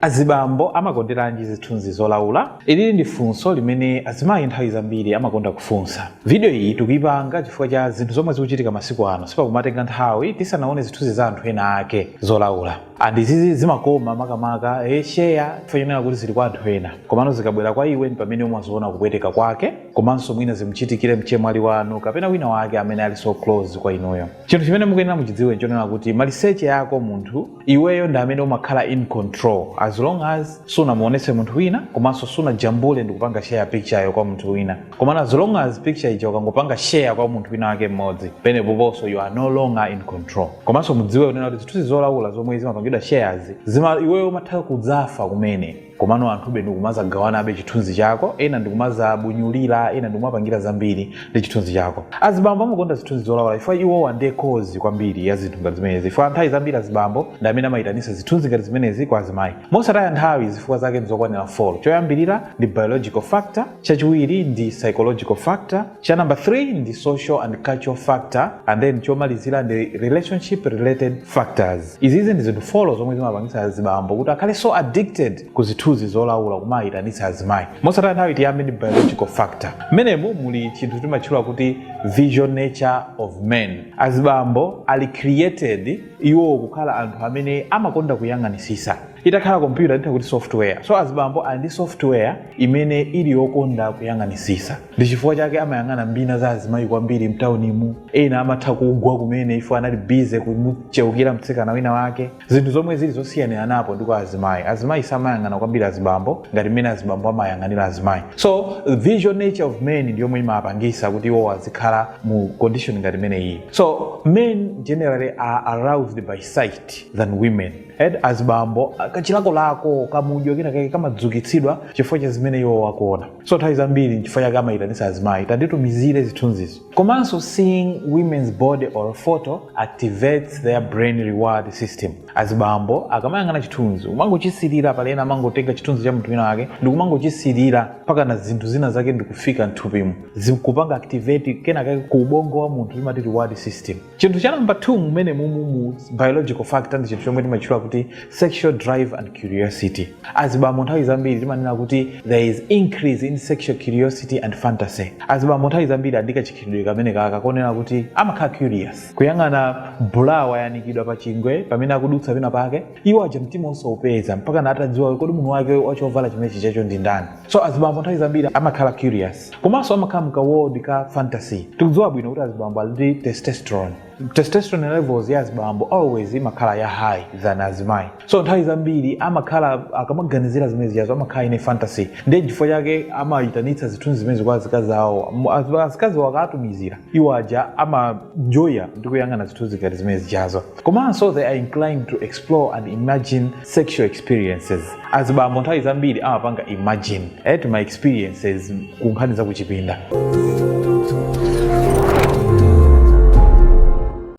Azibambo amakonderanji zithunzi zolaula? Ilili ndi funso limene azimayi nthawi zambiri amakonda kufunsa. Vidiyo iyi tikuipanga chifukwa cha zinthu zomwe zikuchitika masiku ano. Sipakumatenga nthawi tisanaone zithunzi za anthu ena ake zolaula. And izizi zimakoma makamaka eh share chifukwa chonena kuti zili kwa anthu ena. Komano zikabwera kwa iwe ndipamene umaziona kupweteka kwake komanso mwina zimuchitikire mchemwali wanu kapena wina wake amene ali so close kwa inuyo. Chinthu chimene mukuyenera muchidziwe nchonena kuti maliseche yako munthu. iweyo ndi amene umakhala in control as long as sunamuonese munthu wina komanso sunajambule ndikupanga share picture yo kwa munthu wina komano as long as picture ija ukangopanga share kwa munthu wina wake mmodzi penepo ponso you are no longer in control komanso mudziwe kunena kuti zithunzi zolaula zomwe zimapangidwa share izi iweyo umatha kudzafa kumene komano anthube ndikumazagawanabe chithunzi chako ena ndikumazabunyulira ena ndikumapangira zambiri ndi chithunzi chako azibambo amakonda zithunzi zolaula chifukwa iwowa ndiye cause kwambiri ya zinthu ngati zimenezi chifukwa nthawi zambiri azibambo ndi amene amayitanisa zithunzi ngati zimenezi kwa azimayi mosataya nthawi zifukwa zake ndizokwanira 4 choyambirira ndi biological factor chachiwiri ndi psychological factor cha number 3 ndi social and cultural factor and then chomalizira ndi relationship related factors. Izizi ndi zinthu 4 zomwe zimapangitsa azibambo kuti akhale so addicted ku zithunzi zolaula kumayitanitsa azimayi. Mosataya nthawi tiyambe ndi biological factor. Mmenemu muli chinthu timatchula kuti visual nature of men. Azibambo ali created iwo kukhala anthu amene amakonda kuyang'anisisa. Itakhala kompyuta titha kuti software. So azibambo ali ndi software imene ili yokonda kuyang'anisisa. ndi chifukwa chake amayang'ana mbina za azimayi kwambiri mtaunimu ena amatha kugwa kumene ifo anali busy kumucheukira mtsikana wina wake zinthu zomwe zili zosiyaniranapo ndi kwa azimayi azimayi samayang'ana kwambiri azibambo ngati mmene azibambo amayang'anira azimayi so visual nature of men ndi yomwe imapangisa kuti iwo azikhala mu condition ngati imene iyi so men generally are aroused by sight than women and azibambo kachilakolako kamudyo kenakake kamadzukitsidwa chifukwa cha zimene iwo akuona so nthawi zambiri nchifukwa chake amayitanisa azimayi tanditumizire zithunzizo komanso seeing women's body or photo activates their brain reward system azibambo akamayang'ana chithunzi kumangochisilira pali ena amangotenga chithunzi cha munthu wina wake ndikumangochisilira mpakana zinthu zina zake ndikufika mthupimu zikupanga activate kenakake ku ubongo wa munthu imati reward system chinthu cha namba 2 mmene mumu mu biological factor ndi chinthu chomwe timatchula kuti sexual drive and curiosity azibambo nthawi zambiri timanena kuti there is increase in sexual curiosity and fantasy azibambo nthawi zambiri ali ndi kachikhalidwe kamene kaka konena kuti amakhala curious kuyang'ana bra wayanikidwa pa chingwe pamene akudutsa pena pake iwo aja mtima osaupeza mpakana atadziwa kodi munthu wake wachovala chimenechi chacho ndi ndani so azibambo nthawi zambiri amakhala curious sex komanso amakhala mka world ka fantasy tikudziwa bwino kuti azibambo ali ndi testosterone testosterone levels ya azibambo always imakhala ya high than azimayi so nthawi zambiri amakhala akamaganizira zimene zijazo amakhala in a fantasy ndiye chifukwa chake amayitanitsa zithunzi zimenezi kwa azikazi awo Mu- az- azikazi awo akatumizira iwo aja amanjoya ndi kuyang'ana zithunzi ngati zimene zijazo komanso they are inclined to explore and imagine sexual experiences azibambo nthawi zambiri amapanga imagine eti ma experiences ku nkhani za kuchipinda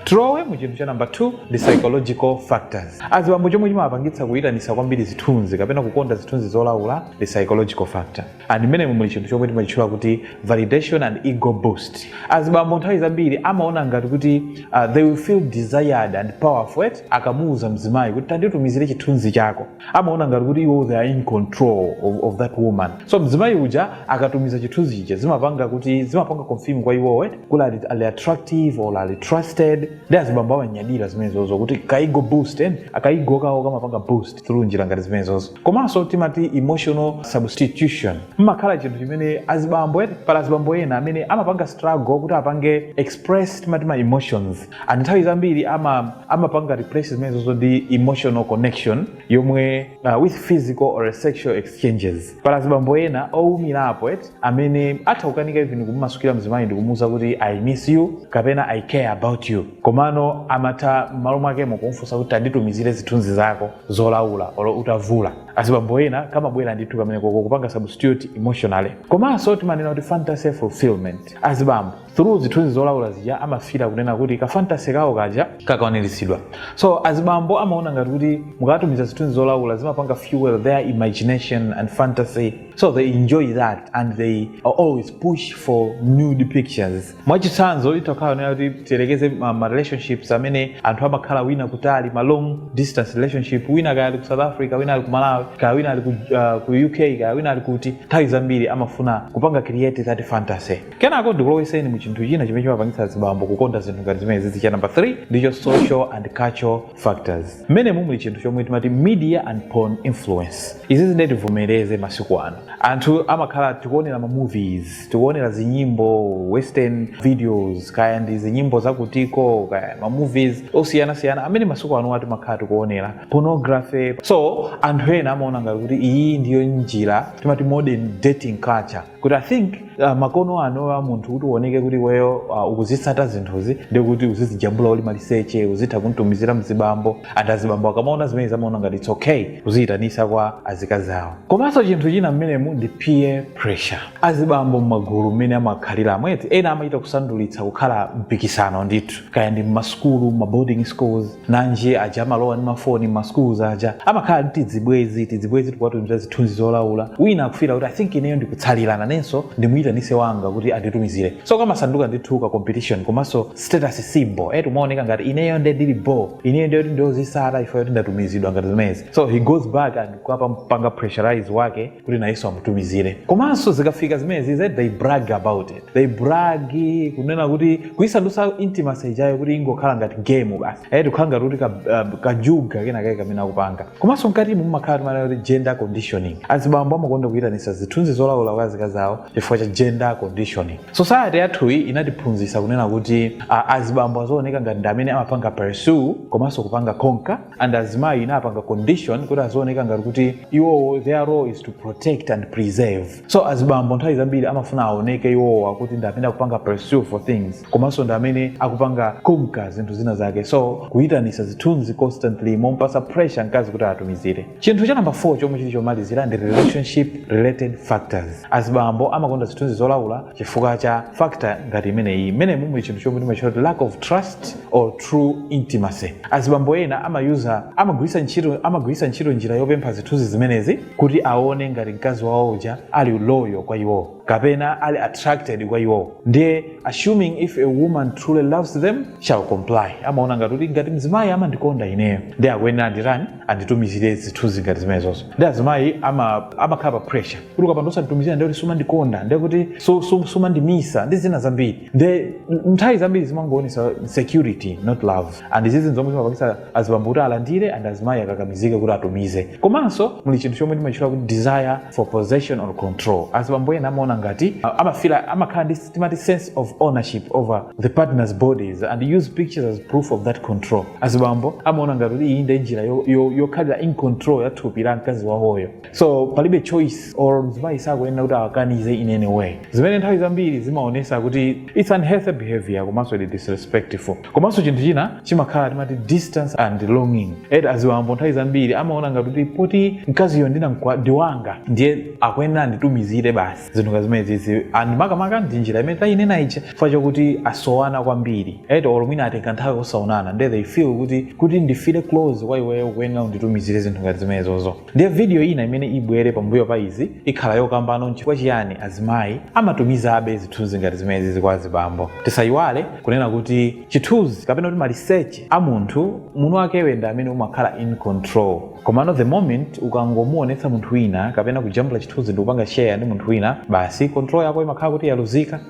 tilowe mu chinthu cha namba 2 ndi psychological factors azibambo chomwe chimawapangitsa kuyitanisa kwambiri zithunzi kapena kukonda zithunzi zolaula ndi psychological factor and mmenemu muli chinthu chomwe timachitchula kuti validation and ego boost azibambo nthawi zambiri amaona ngati kuti uh, they will feel desired and powerful eti akamuuza mzimayi kuti tanditumizire chithunzi chako amaona ngati kuti iwo they are in control of, of that woman so mzimayi uja akatumiza chithunzi chija zimapanga kuti zimapanga confirm kwa iwo eti kuti ali, ali attractive or ali trusted nde azibambo amanyadira zimenezozo kuti ka ego boost and ka ego kawo kamapanga boost through njira ngati zimenezozo komanso timati emotional substitution mmakhala chinthu chimene azibambo eti pali azibambo ena amene amapanga struggle kuti apange express timati ma emotions and nthawi zambiri ama amapanga replace zimenezozo ndi emotional connection yomwe uh, with physical or sexual exchanges pali azibambo ena owumirapo eti amene atha kukanika even kumumasukira mzimayi ndikumuuza kuti i miss you kapena i care about you komano amatha m'malo mwakemo kumfunsa kuti tanditumizire zithunzi zako zolaula olo utavula azibambo ena kamabwera ndithu kameneko ko kupanga substitute emotionally komanso timanena kuti fantasy fulfillment azibambo through zithunzi zolaula zija amafila kunena kuti ka fantasy kawo kaja kakukwaniritsidwa so azibambo amaona ngati kuti mukatumiza zithunzi zolaula zimapanga fuel their imagination and fantasy so they enjoy that and they always push for nude pictures mwachitsanzo zitakhala zonena kuti tiyerekeze ma, ma relationships amene anthu amakhala wina kutali ma long distance relationship wina kaya ali ku south africa wina ali ku malawi kaya wina ali ku, uh, ku uk kaya wina ali kuti nthawi zambiri amafuna kupanga create that fantasy kenako ndikulowetseni mu chinthu china chimene chimapangitsa azibambo kukonda zinthu ngati zimene zizi cha number 3 ndicho social and cultural factors mmenemu muli chinthu chomwe timati media and porn influence izizi nde tivomereze masiku ano anthu amakhala tikuonera ma movies tikuonera zinyimbo western videos kaya ndi zinyimbo zakutiko kaya ma movies osiyanasiyana amene masiku ano timakhala tikuonera pornography so anthu ena amaona ngati kuti iyi ndiyo njira timati modern dating culture kuti i think uh, makono ano a munthu kuti uoneke kuti iweyo uh, ukuzitsata zinthuzi ndikuti uzizijambula uli maliseche uzitha kuntumizira mzibambo and azibambo akamaona zimenezo amaona ngati its okay kuziyitanisa kwa azikazi awo komanso chinthu china mmenemu ndi peer pressure azibambo mmagulu mmene amakhalira mwati ena amachita kusandulitsa kukhala mpikisano ndithu kaya ndi mmasukulu mma boarding schools nanji aja amalowa ndi mafoni mma schools aja amakhala ndi tidzibwezi tidzibwezi tikuwatumiza zithunzi zolaula wina akufila kuti i think ineyo ndikutsalira nanenso ndimuyitanise wanga kuti anditumizire so kamasanduka ndithu ka competition komanso status symbol eti umaoneka ngati ineyo nde ndili bo ineyo nde kuti ndi wozisata ifa yoti ndatumizidwa ngati zimezi so he goes back and kukampanga pressurize wake kuti nayenso amutumizire komanso zikafika zimezi that they brag about it they brag kunena kuti kuisandutsa intimacy ijayo kuti ingokhala ngati game basi eti kukhala ngati kuti ka- uh, kajuga kenakake kamene akupanga komanso mkatimo mumakhala timanena kuti gender conditioning azibambo amakonda kuyitanisa zithunzi zolawula kwa azikazi awo chifukwa cha gender conditioning society yathuyi inatiphunzitsa kunena kuti uh, azibambo azooneka ngati ndi amene amapanga pursue komanso kupanga conquer and azimayi inapanga condition kuti azooneka ngati kuti iwowo their role is to protect and preserve so azibambo nthawi zambiri amafuna aoneke iwowa kuti ndi amene akupanga pursue for things komanso ndi amene akupanga conquer zinthu zina zake so kuyitanisa zithunzi constantly momupasa pressure mkazi kuti atumizire chinthu cha namba 4 chomwe chili chomalizira ndi relationship related factors azibambo amakonda zithunzi zolaula chifukwa cha factor ngati imeneyi imene mumuli chinthu chomwe timachiti lack of trust or true intimacy azibambo ena amayuza amagwiritsa ntchito amagwiritsa ntchito njira yopempha zithunzi zimenezi kuti aone ngati mkazi wawo uja ali loyal kwa iwowo kapena ali attracted kwa iwowo ndiye assuming if a woman truly loves them shall comply amaona ngati kuti ngati mzimayi amandikonda ineyo nde akuyenera anditani anditumizire zithunzi ngati zimenezozo nde azimayi ama- amakhala pa pressure kuti ukapanda osanditumizira ndiye kuti sumandikonda ndiye kuti su- su- sumandimisa ndi zina zambiri nde nthawi zambiri zimangoonesa insecurity not love and izizi nzomwe zimapangisa azibambo kuti alandire and azimayi akakamizike kuti atumize komanso muli chinthu chomwe timachitchula kuti desire for possession or control azibambo ena amaona ngati uh, amafila amakhala ndi timati sense of ownership over the partners bodies and use pictures as proof of that control azibambo amaona ngati kuti iyi ndi njira yo- yo- yokhalira in control ya thupi la mkazi wawoyo so palibe choice or mzimayi sakuyenera kuti akanize in any way zimene nthawi zambiri zimaonesa kuti its unhealthy behavior komanso ndi disrespectful komanso chinthu china chimakhala timati distance and longing eti azibambo nthawi zambiri amaona ngati kuti poti mkaziyo ndinamkwa ndiwanga ndiye akuyenera anditumizire basi zinthu nga zimene zizi and makamaka ndi njira imene tayinena ija chifukwa chakuti asowana kwambiri eti or mwina atenga nthawi osaonana nde they feel kuti kuti ndifile close kwa iweyo ukuyenera unditumizire zinthu ngati zimenezozo Ndiye vidiyo ina imene ibwere pambuyo pa izi ikhala yokambano nchifukwa chiyani azimayi amatumizabe zithunzi ngati zimenezi kwa azibambo. Tisayiwale kunena kuti chithunzi kapena kuti maliseche a munthu mwini wakewe ndi amene umakhala in control komano the moment ukangomuonetsa munthu wina kapena kujambula chithunzi ndikupanga share ndi munthu wina basi control yako imakhala kuti yaluzika.